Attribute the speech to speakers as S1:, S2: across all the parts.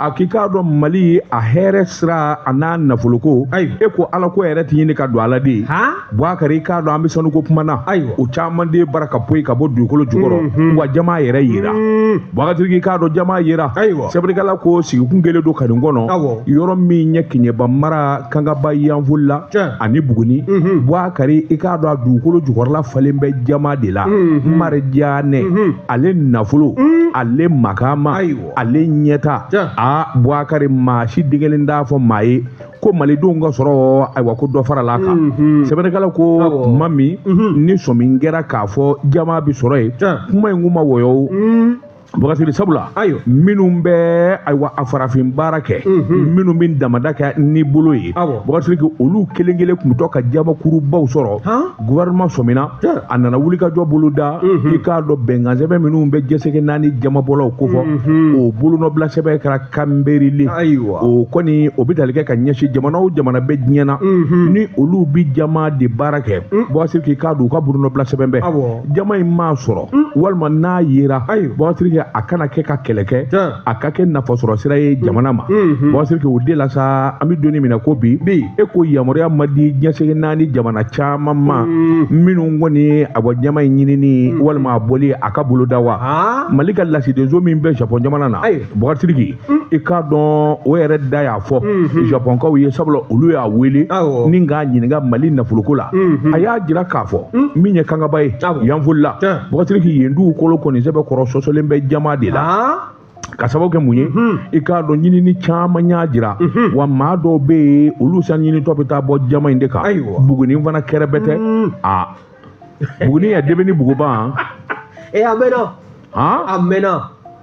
S1: a k'i k'a dɔn mali a hɛrɛ sira a n'a nafoloko ayi e ko ala ko yɛrɛ tɛ ɲini ka dɔn ala de ye buwakari i k'a dɔn an bɛ sanuko kuma na ayi o caman de bara ka poyi ka bɔ dugukolo jukɔrɔ mhm. wa jaman yɛrɛ yera mhm. buwakari siriki i k'a dɔn jaman yera ayiwa sɛbɛnnikɛla ko sigikun kelen don kanin kɔnɔ yɔrɔ min ye keɲeba mara kangaba yanfolila ani buguni mhm. buwakari i k'a dɔn a dugukolo jukɔrɔla falen bɛ jaman de la marijanɛ ale nafolo ale makama ale ɲɛta a buwakari maa si degelen t'a fɔ maa ye ko malidenw ka sɔrɔ ayiwa ko dɔ farala a kan mhm. sɛbɛnnikɛla ko tuma min mhm. ni sɔmi kɛra k'a fɔ jaman bɛ sɔrɔ yen kuma in kun ma wɔyɔ o mhm. buwakari siriki sabula ayiwa minnu bɛ ayiwa a farafin baara kɛ minnu bɛ damanda kɛ ni bolo ye buwakari siriki olu kelen kelen tun bɛ to ka jamankurubaw sɔrɔ gouvernement sɔmina a nana wulikajɔ boloda mhm. i k'a dɔn bɛnkansɛbɛn minnu bɛ diɲɛ seleke naani jamanbɔlaw kofɔ mhm. o bolonɔbila sɛbɛn kɛra Kimberley o kɔni o bɛ tali kɛ ka ɲɛsin jamana o jamana bɛ diɲɛ na mhm. ni olu bɛ jaman de baara kɛ buwakari siriki k'a don u ka bolonɔbila sɛbɛn bɛɛ jaman in ma sɔrɔ walima n'a yera buwakari siriki a kana kɛ ka kɛlɛ kɛ a ka kɛ nafasɔrɔ sira ye jamana ma buwakari siriki o de la sa an bɛ don min na i ko bi e ko yamaruya ma di diɲɛ seleke naani jamana caman ma minnu kɔni a bɔ jaman in ɲinini walima a bɔli a ka boloda wa mali ka lasidenso min bɛ japɔn jamana na buwakari siriki i k'a dɔn o yɛrɛ de y'a fɔ japɔnkaw ye sabula olu y'a wele ni k'a ɲininka mali nafoloko la a y'a jira k'a fɔ min ye kangaba ye yanfolila Buwakari Siriki yen dugukolo kɔni sɛbɛkɔrɔ sɔsɔlen bɛ jaman de la ka sababu kɛ mun ye mhm. i k'a dɔn ɲinini caman y'a jira mhm. wa maa dɔw bɛ yen olu sanu ɲinitɔ bɛ taa bɔ jaman in de kan bugunin fana kɛrɛ bɛ ten mhm. a bugunin ya debe ni buguba ee a
S2: mɛnna a mɛnna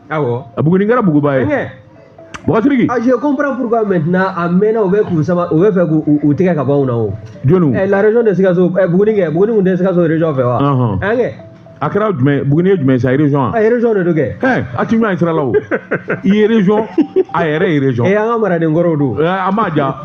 S2: awɔ bugunin kɛra buguba
S1: ye Buwakari Siriki a je
S2: comprends pourquoi maintenant a mɛnna u bɛ k'u sama u b'a fɛ k'u tigɛ ka bɔ anw na o jɔniw ɛ la région
S1: de
S2: Sikaso ɛ Buguni kɛ Buguni kun tɛ Sikaso région fɛ wa Ɔnhɔn. an kɛ a kɛra
S1: jumɛn Buguni ye jumɛn ye sa région a a ye région de don kɛ ɛ
S2: a ti ɲɔgɔn ye sira
S1: la o i ye région a yɛrɛ ye région ɛ an ka maraden
S2: kɔrɔw don Ɛ, a ma
S1: ja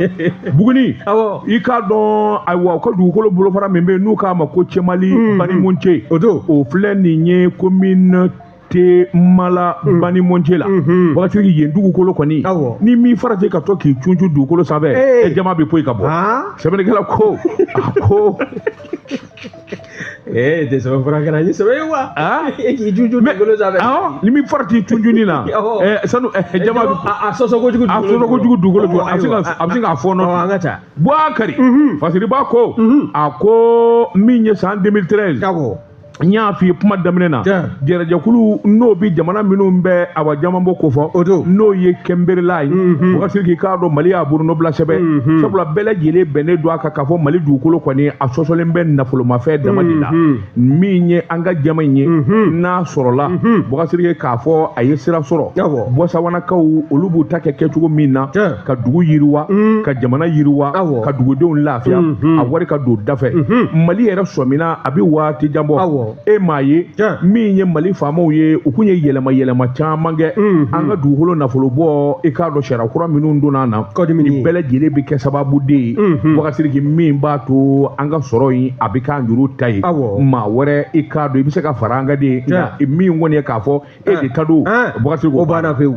S1: Buguni awɔ i k'a dɔn ayiwa u ka dugukolo bolofara min bɛ yen n'u k'a ma ko cɛmala banimɔnɔcɛ o don o filɛ nin ye commune cɛmala mm. banimɔnɔcɛ la mm-hmm. buwakari siriki yen dugukolo kɔni ni min farati ka to k'i cuncu dugukolo sanfɛ e eh. jaman bɛ poyi ka bɔ ah. sɛbɛnnikɛla ko a ko
S2: ee eh, tɛ sɛbɛn fura kɛra ni sɛbɛn ye wa ah. e k'i cuncu dugukolo sanfɛ ah, ni min farati
S1: cuncuni na eh, sanu jaman bɛ a sɔsɔ
S2: kojugu a sɔsɔ kojugu dugukolo
S1: jɔ a bɛ sin k'a fɔɔnɔ an ka taa
S2: buwakari mm-hmm.
S1: fasiriba ko mm-hmm. a ko min ye san 2013 n y'a f'i ye kuma daminɛ na Tiɲɛ. jɛrɛjɛkulu n'o bɛ jamana minnu bɛ awa jamanbɔ kofɔ O don. n'o ye kɛnberile ye boka siriki i k'a dɔn mali y'a bolonɔbila sɛbɛn sabula bɛɛ lajɛlen bɛnnen don a kan k'a fɔ mali dugukolo kɔni a sɔsɔlen bɛ nafolomafɛn dama de la min ye an ka jama in ye n'a sɔrɔla boka siriki k'a fɔ a ye sira sɔrɔ Awɔ. bɔsawanakaw olu b'u ta kɛ kɛcogo min na Tiɲɛ. ka dugu yiriwa mm. ka jamana yiriwa ka dugudenw lafiya mm-hmm. a wari ka don dafɛ mm-hmm. mali yɛrɛ sɔmina a bɛ waati jan bɔ e m'a ye min ye mali faamaw ye u kun ye yɛlɛma yɛlɛma caman kɛ mm-hmm. an ka dugukolo nafolo bɔ i k'a dɔn sariya kura minnu donna na nin bɛɛ lajɛlen bɛ kɛ sababu de ye boka siriki min b'a to an ka sɔrɔ in a bɛ k'an yɛrɛ ta ye maa wɛrɛ i k'a dɔn i bɛ se ka fara an kan de ye min kɔni ye k'a fɔ e de ta don boka siriki o banna pewu